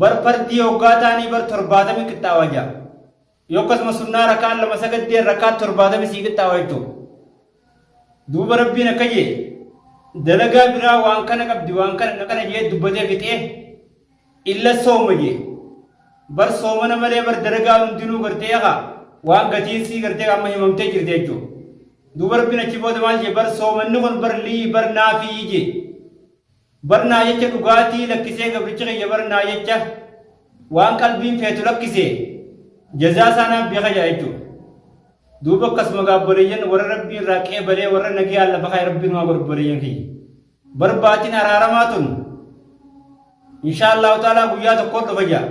bar fardii hoggaa taanii bar torbaatami qixxaawa ja'a yoo akkasuma sunnaa rakaan lama sagaddeen rakaa torbaatami sii qixxaawa jechuu duuba rabbiin akka jee dalagaa biraa waan kana qabdi waan kana kana jee dubbatee fixee illa sooma jee bar soomana malee bar dalagaa hundinuu gartee haa waan gatiin sii gartee amma himamtee jirte jechuudha. Dubartiin achi booda maal jee bar soomanni kun bar lii bar naafii jee. Bar naa jecha dhugaatii lakkisee gabrichi kiyya bar naa jecha waan qalbiin feetu lakkise jazaa isaa naaf beeka jira jechuudha. Duuba akkasuma gaabboleeyyan warra rabbii irraa qeebalee warra nagiyaan lafa kaa'e rabbiin waa godhobboleeyyan kiyya. Bar baatiin araaramaa tun inshaa Allahu ta'ala guyyaa tokkoon dhufa jira.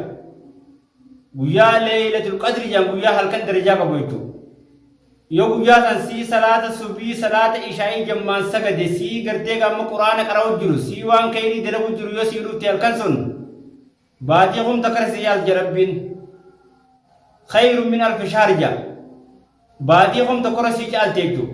Guyyaa leeylatul qadri jedhan guyyaa halkan darajaa qabu jechuudha. Yoo guyyaa san sii salaata subii salaata ishaa'ii jammaan sagade sii gartee gaamma quraana qara'u jiru sii waan kayrii dalagu jiru yoo sii dhufte halkan sun baatii kumta karsi yaal jarabbiin kayru min alfi shaarja baatii kumta kora sii caalte jechuudha.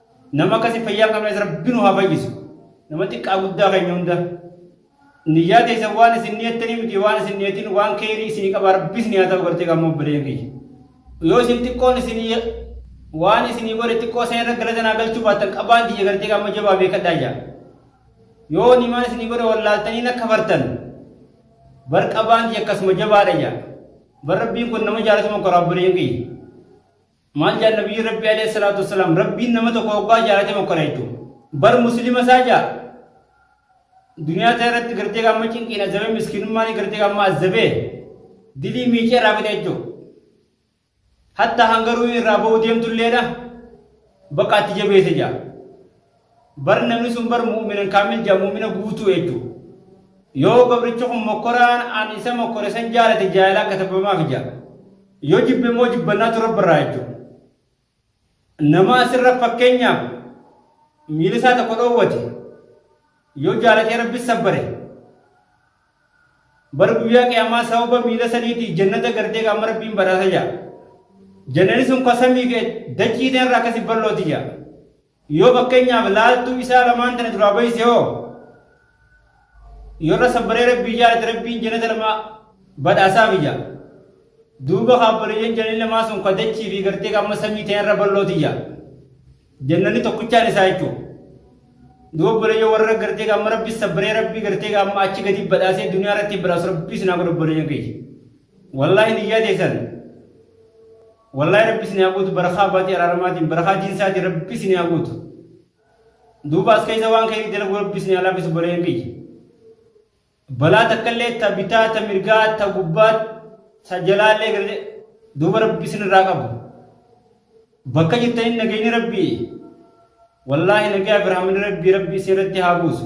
Nama akkasii fayyaa hin qabnes rabbi nu haa fayyisu. Nama xiqqaa guddaa keenya hunda. Niyyaa teessan waan isin niyattanii miti waan isin niyattin waan keerii isin qaba rabbi isin haa ta'u gartee gammoo baleen kiyya. Yoo isin xiqqoon isin waan isin godhe xiqqoo sana irra galata naa galchuu baattan qabaan tiyya gartee gamma jabaa beekadhaa jaa. Yoo nimaan isin godhe wallaaltanii na kafartan bar qabaan tiyya akkasuma jabaadha jaa. Bar rabbiin kun nama jaalatuma koraa baleen kiyya. Maal jaan nabiyyiin rabbii alayhi salaatu wassalaam rabbiin nama tokko hoggaa jaalate mokkora jechuun bar muslima isaa jaa duniyaa isaa irratti gartee gaamma cinqiin azabee miskiinummaan gartee gaamma azabee dilii miicee irraa fide jechuun hatta hangaruu irraa ba'uu deemtulleedha bakka atti jabeesse jaa. Bar namni sun bar mu'minan kaamil jaa mu'mina guutuu jechu. Yoo gabrichi kun mokkoraan an isa mokkore san jaalate jaalalaa katabamaaf jaa. Yoo jibbe immoo jibbannaatu rabbi irraa jechu. Nama asirra fakkeenyaaf miila isaa tokko dhoowwate yoo jaalatee rabbi sabbare bar guyyaa qiyaamaa sababa miila saniitii jannata gartee qaama rabbiin badhaasa jaa. Jannani sun kasamii fi dachii irraa akkasi ballooti jaa. Yoo fakkeenyaaf laaltuu isaa lamaan tana duraa bayse hoo yoo irra sabbaree rabbii jaalate rabbiin jannata lama badhaasaa biyya. Duuba kaabbaliyyan jannanni lamaa sun ka dachii fi gartee ka amma samii ta'e irra ballooti jaa. Jannanni tokkichaan isaa jechuudha. Duuba obboleeyyan warra gartee ka amma rabbi sabbaree rabbii gartee ka amma achi gadi badhaasee duniyaa irratti badhaasu rabbii sinaa godhu obboleeyyan keenya. Wallaahi niyyaa teessan Wallahi rabbi isin haa guutu barakaa baatii araaramaatiin barakaa jinsaatiin rabbi isin haa guutu. Duuba as keessa waan ka'eef dalagu rabbi isin haa laafisu baleen kiyya. Balaa takkallee ta bitaa ta mirgaa ta gubbaa ta jalaallee galee duuba rabbi isin irraa qabu. Bakka jirtaniin nageenyi rabbi wallaahi nagaa fi rahmanni rabbi rabbi isin irratti haa buusu.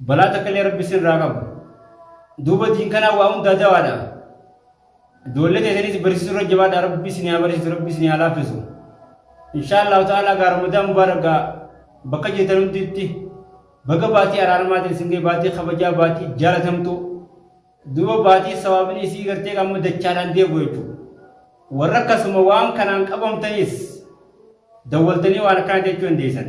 Balaa takkallee rabbi sirraa qabu. Duuba diin kanaa waa hundaa dawaadha. Ijoollee teessaniis barsiisuu irra jabaadha rabbi isin haa barsiisu rabbi isin haa laaffisu. Inshaa Allahu ta'ala gaa Ramadaan Mubaarak gaa bakka jirtan hunditti baga baatii araarmaatiin isin ga'e baatii kabajaa baatii jaalatamtu. Duuba baatii sawaabni isii gartee amma dachaadhaan deebi'u jechuudha. Warra akkasuma waan kanaan qabamtanis dawwaltanii waan akkanaa jechuu dandeessan.